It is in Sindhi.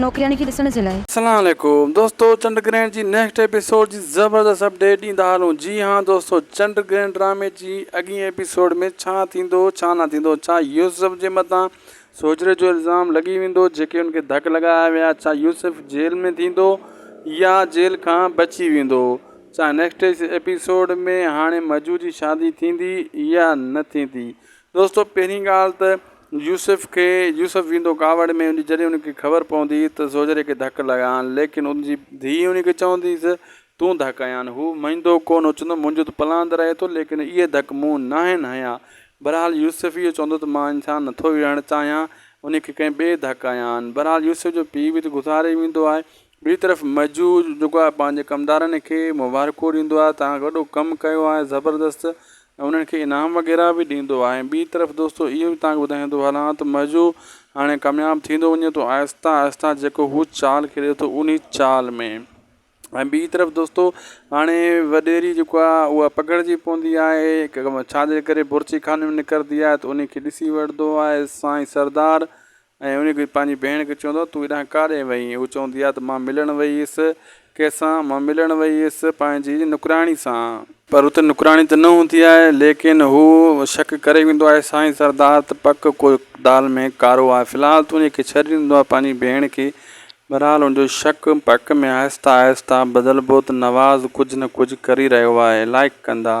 نوڪرياڻي کي ڏسڻ جي لاء. سلام عليڪم دوستو چنڊ گرهڻ جي نيڪسٽ ايپيسوڊ جي زبردست اپڊيٽ ڏيندا هلون جي ها دوستو چنڊ گرهڻ ڊرامي جي اڳين ايپيسوڊ ۾ ڇا ٿيندو ڇا نه ٿيندو ڇا يوسف جي مٿان سوجهري جو الزام لڳي ويندو جيڪي ان کي ڌڪ لڳايا ويا ڇا يوسف جيل ۾ ٿيندو يا جيل کان بچي ويندو ڇا نيڪسٽ ايپيسوڊ ۾ هاڻي مجو جي شادي ٿيندي يا نه ٿيندي دوستو پهرين ڳالهه ته يوسف کي يوسف ويندو ڪاوڙ ۾ ان جڏهن ان کي خبر پوندي ته زوجهري کي ڌڪ لڳا آهن ليڪن ان جي ڌيء ان کي چونديس تون ڌڪ هنيا آهن هو مئيندو ڪون هو چوندو منهنجو ته پلاند رهي ٿو ليڪن اهي ڌڪ مون ناهن هنيا بهرحال يوسف اهو چوندو ته مان انسان نٿو وڙهڻ چاهيان ان کي ڪنهن ٻئي ڌڪ هنيا آهن بهرحال يوسف جو پيء به ته گذاري ويندو آهي ٻي طرف مجوع جيڪو آهي پنهنجي ڪمدارن کي مبارڪون ڏيندو آهي توهان وڏو ڪم ڪيو آهي زبردست ۽ انهن کي انعام وغيره به ڏيندو آهي ٻي طرف دوستو اهو به توهان کي ٻڌائيندو هلان ته مجوع هاڻي ڪامياب ٿيندو وڃي ٿو آهسته آهسته جيڪو هو چال کيڏي ٿو انهي چال ۾ ۽ ٻي طرف دوستو هاڻي وڏيري جيڪو آهي اها پگهرجي پوندي آهي ڪم ڇا جي ڪري بورچي خاني ۾ نڪرندي آهي ته انهي کي ڏسي وٺندو آهي سائين سردار ۽ انهيء کي پنهنجي ڀيڻ کي چوندو آهي، تون هيڏانهن ڪاڏهن وئي هئين؟ هوء چوندي آهي ته مان ملڻ وئي هيس. ڪنهن سان؟ مان ملڻ وئي هيس پنهنجي نوڪراڻي سان. پر اتي نوڪراڻي ته نه هوندي آهي. ليڪن هو شڪ ڪري ويندو آهي، سائين سردار ته پڪ ڪو دال ۾ ڪارو آهي. في الحال تون انهيء کي ڇڏي ڏيندو آهين پنهنجي ڀيڻ کي. بهرحال هن جو شڪ پڪ ۾ آهستي آهستي بدلبو ته نواز ڪجهه نه ڪجهه ڪري رهيو آهي. لائق ڪندا.